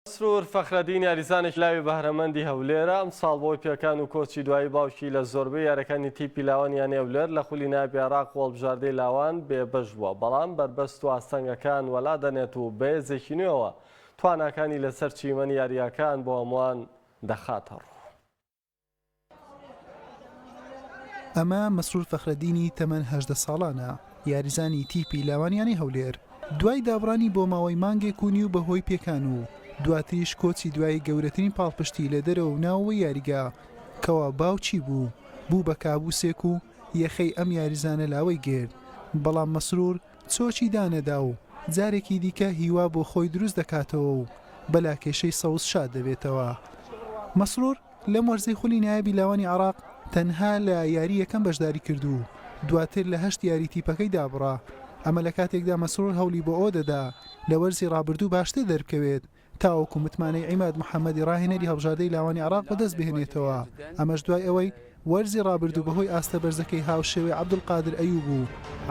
مەسرور فەخرەدین یاریزانێکی لاوی بەهرەمەندی هەولێرە، ئەمساڵ بەهۆی پێکان و کۆچی دوایی باوکی لە زۆربەی یاریەکانی تیپی لاوان یانەی هەولێر لە خولی نایابی عێراق و هەڵبژاردەی لاوان بێبەش بووە، بەڵام بەربەست و ئاستەنگەکان وەلا دەنێت و بەهێزێکی نوێوە تواناکانی لەسەر چیمەنی یارییەکان بۆ هەمووان دەخاتە ڕوو. ئەمە مەسرور فەخرەدینی تەمەن هەژدە ساڵانە یاریزانی تیپی لاوانیانی هەولێر دوای دابڕانی بۆ ماوەی مانگێک و نیو بەهۆی پێکان و دواتریش کۆچی دوای گەورەترین پاڵپشتی لە دەرەوە ناوەوە یاریگا کەوا باوچی بوو بوو بە کابوسێک و یەخەی ئەم یاریزانە لاوەی گرت بەڵام مەسرور چۆکی دانەدا و جارێکی دیکە هیوا بۆ خۆی دروست دەکاتەوە و بە لاکێشەی سەوز شاد دەبێتەوە. مەسرور لەم وەرزەی خولی نایابی لاوانی عێراق تەنها لە یاری یەکەم بەشداری کرد و دواتر لە هەشت یاری تیپەکەی دابڕا، ئەمە لە کاتێکدا مەسرور هەوڵی بۆ ئەوە دەدا لە وەرزی رابردوو باشتر دەربکەوێت، تاوەکو متمانەی عیماد محەمەدی راهێنەری هەڵبژاردەی لاوانی عێراق بەدەستبهێنێتەوە، ئەمەش دوای ئەوەی وەرزی رابردوو بەهۆی ئاستە بەرزەکەی هاوشێوەی عەبدولقادر ئەیوب و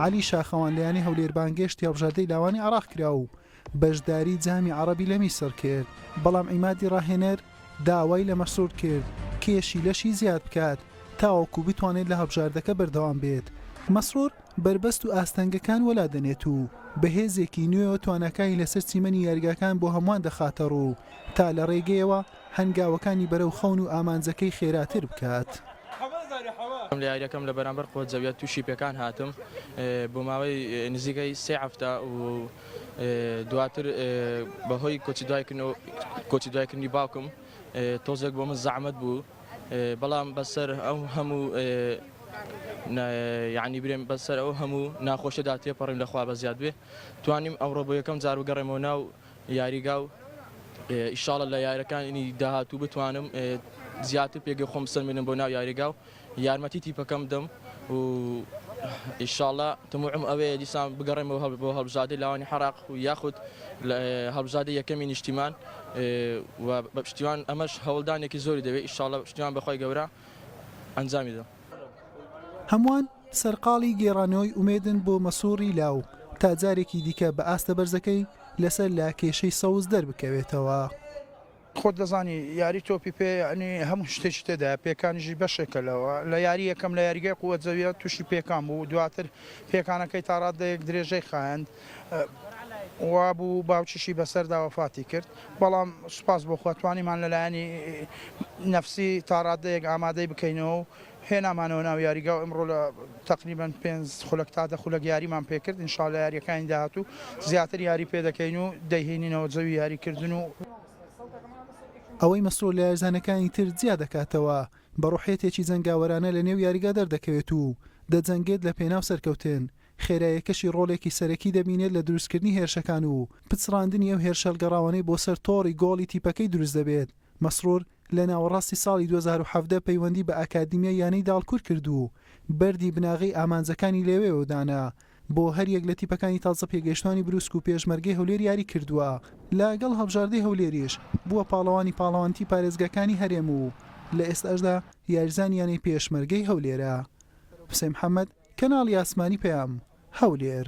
عەلی شاخەوان لە یانەی هەولێر بانگێشتی هەڵبژاردەی لاوانی عێراق کرا و بەشداری جامی عەڕەبی لە میسڕ کرد، بەڵام عیمادی راهێنەر داوای لە مەسرور کرد کێشی لەشی زیاد بکات تاوەکو بتوانێت لە هەڵبژاردەکە بەردەوام بێت، مەسرور. بەربەست و ئاستەنگەکان وەلا دەنێت و بە هێزێکی نوێوە تواناکانی لەسەر چیمەنی یاریگاکان بۆ هەمووان دەخاتە ڕوو تا لە ڕێگەیەوە هەنگاوەکانی بەرەو خەون و ئامانجەکەی خێراتر بکات. لە یارییەکەم لە بەرامبەر قۆزەویە تووشی پێکان هاتم بۆ ماوەی نزیکەی سێ هەفتە و دواتر بەهۆی کۆچی دوایکردنی باوکم تۆزێک بۆ من زەحمەت بوو. بەڵام بەسەر ئەو هەموو یانی برێن بەسەر ئەو هەموو ناخۆشەدا تێپەڕیم لەخوا بە زیاد بێ توانیم ئەوڕۆ بۆ یەکەم جار بگەڕێمەوە ناو یاریگا و ئیشاڵە لە یارەکانی داهاتوو بتوانم زیاتر پێگە خۆم سەلمێنم بۆ ناو یاریگا و یارمەتی تیپەکەم دەم و ئیشاڵا تموعم ئەوەیە دیسان بگەڕێمەوە بۆ هەڵبژادەی لاوانی حەراق و یاخود هەڵبژادەی یەکەمی نیشتیمان و بە پشتیوان ئەمەش هەوڵدانێکی زۆری دەوێت ئیشاڵا پشتیوان بەخوای گەورە ئەنجامی دەم. هەمووان سەرقاڵی گێڕانەوەی ئومێدن بۆ مەسوڕی لاو تا جارێکی دیکە بە ئاستە بەرزەکەی لەسەر لە کێشەی سەوز دەربکەوێتەوە. خۆت دەزانی یاری تۆپی پێ یانی هەموو شتێکی تێدایە، پێکانیشی بەشێکە لەوە، لە یاری یەکەم لە یاریگای قووە جەویە تووشی پێکان بوو، دواتر پێکانەکەی تا ڕاددەیەک درێژەی خایاند، وابوو باوکیشی بەسەردا وەفاتی کرد، بەڵام سوپاس بۆ خوا توانیمان لە لایەنی نەفسی تا ڕاددەیەک ئامادەی بکەینەوە و هێنامانەوە ناو یاریگا و ئمڕۆ لە تەقریبەن پێنج خولەک تا دە خولەک یاریمان پێکرد ان شاء اللە یاریەکانی داهاتوو زیاتر یاری پێدەکەین و دەیهینینەوە جەوی یاریکردن و ئەوەی مەسرور لە یارزانەکانی تر جیا دەکاتەوە بە روحیەتێکی جەنگاوەرانە لە نێو یاریگا دەردەکەوێت و دەجەنگێت لە پێناو سەرکەوتن خێرایەکەشی رۆلێکی سەرەکی دەبینێت لە دروستکردنی هێرشەکان و پچڕاندنی ئەو هێرشەهەلگەڕاوانەی بۆ سەر تۆڕی گۆڵی تیپەکەی دروست دەبێت مەسرور لە ناوەڕاستی ساڵی دوو هەزار و حەڤدە پەیوەندی بە ئاکادیمیای یانەی داڵکور کرد و بەردی بناغەی ئامانجەکانی لەوێوە دانا، بۆ هەریەک لە تیپەکانی تازە پێگەیشتوانی برووسک و پێشمەرگەی هەولێر یاری کردووە، لە گەڵ هەڵبژاردەی هەولێریش بووە پاڵەوانی پاڵەوانتی پارێزگاکانی هەرێم و لە ئێستاشدا یاریزانی یانەی پێشمەرگەی هەولێرە. حوسێن محەمەد، کەناڵی ئاسمانی پەیام، هەولێر.